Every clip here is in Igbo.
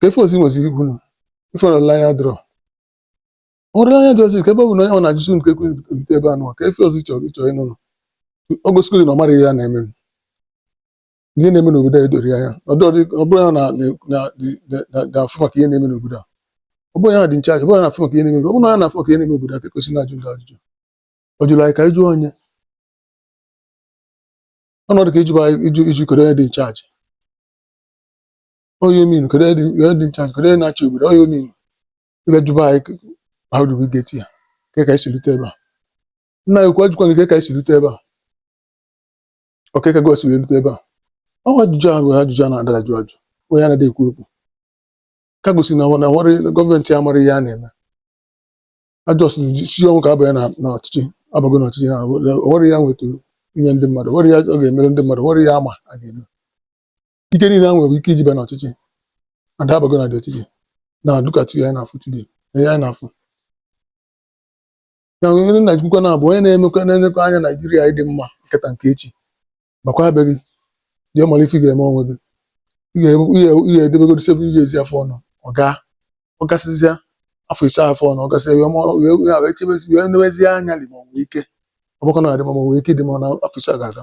kee ife ọzọ ị nweziri ikwu na ife olileanya dịrọ olileanya dị ọzọ ka ebe ọ bụ na onye ọ na-ajụzi unu ka e wee rute ebe anụwa kee ife ọzọ ị chọrọ ịchọ ịnụ nụ o gosikwa na ọ mara ihe ya na-eme ihe na-eme n'obodo a edorọ ya anya ọ dịrọ dị- ọ bụrụ ya na- na- na- na- na- na-afụ maka ihe na-eme n'obodo a ọ bụrụ ya dị in charge ọ bụrụ ya na-afụ maka ihe na-eme ọ bụrụ ya na-afụ maka ihe na-eme obodo a ka ekwesị na-ajụ ndị ajụjụ ọ jụrụ anyị ka anyị jụọ onye ọnọdụ ka ịjụba anyị ịjụ iji kedu onye dị in charge onye min kedu onye dị- onye dị in charge kedu onye na-achị obodo onye min ebe jụba anyị ke- how do we get here ke ka anyị si rute ebe a nna ya ukwu ajụkwa gị ke ka anyị si rute ebe a ọ kee ka gị si wee rute ebe a ọ bụ ajụjụ ahụ bụ ajụjụ a na-ada ajụ ajụ onye anaghị ekwu okwu ka gosi na na nwere gọọmenti amara ihe a na-eme azọsị isi ọnwụ ka a banye na na ọchịchị abago na ọchịchị na o nwere ihe a nweta inye ndị mmadụ o nwere ihe ọ ga-emere ndị mmadụ o nwere ihe a ma a ga-eme ike niile a nwere ike iji bịa n'ọchịchị adabago na dị ọchịchị na dukati ya na-afụ today na ya na-afụ na onye na ekwukwa na bụ onye na-emekwa na-elekwa anya naijiria ịdị mma nke taa nke echi makwa abeg jee mara ife ị ga-eme onwe gị ị ga-ebu- ị ga- ị ga-edebegodi seven years afọ anọ a gaa ọ gasịzịa afọ ise afọ anọ a gasịa wee mụọ- wee wee wee chebezi wee newezie anya lee ma ọ nwee ike ọ bụkwa na adị mma ọ nwee ike ịdị mma na afọ ise a ga-aga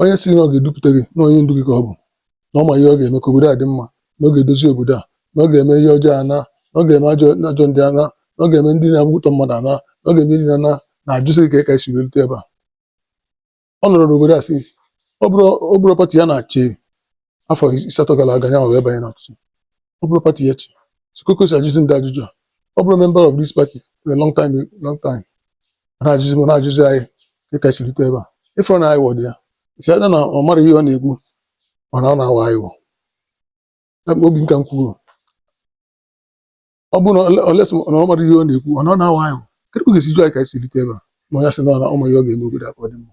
onye si na ọ ga-edupụta gị na onye ndu gị ka ọ bụ na ọ ma ihe ọ ga-eme ka obodo a dị mma na ọ ga-edozi obodo a na ọ ga-eme ihe ọjọọ ana na ọ ga-eme ajọ ajọ ndị ana na ọ ga-eme ndị na-atọ mmadụ ana na ọ ga-eme ndị na na na-ajụsị gị ka ị ka esi wee lute ebe a ọ nọrọ n'obodo a si ọ bụrụ ọ bụrụ pati ya na-achị afọ asatọ gara aga ya wee banye n'ọchịchị ọ bụrụ pati ya chị so kee ka o si ajụzi ndị ajụjụ a ọ bụrụ member of this party for a long time long time ọ na-ajụzi m ọ na-ajụzi anyị ka ka si rute ebe a ịfụrụ na anyị wọdụ ya it's either na ọ mara ihe ọ na-ekwu mana ọ na-awa anyị wọ Ya bụ obi nka m kwuru ọ bụrụ na ole- unless na ọ mara ihe ọ na-ekwu ọ na ọ na-awa anyị wọ kedu ka ọ ga-esi jụ anyị ka anyị si rute ebe a ma ya sị na ọ na- ọ ma ihe ọ ga-eme obodo a ka ọ dị mma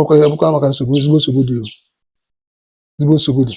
ọkwa ya bụkwa maka nsogbu ezigbo nsogbu dị ezigbo nsogbu dị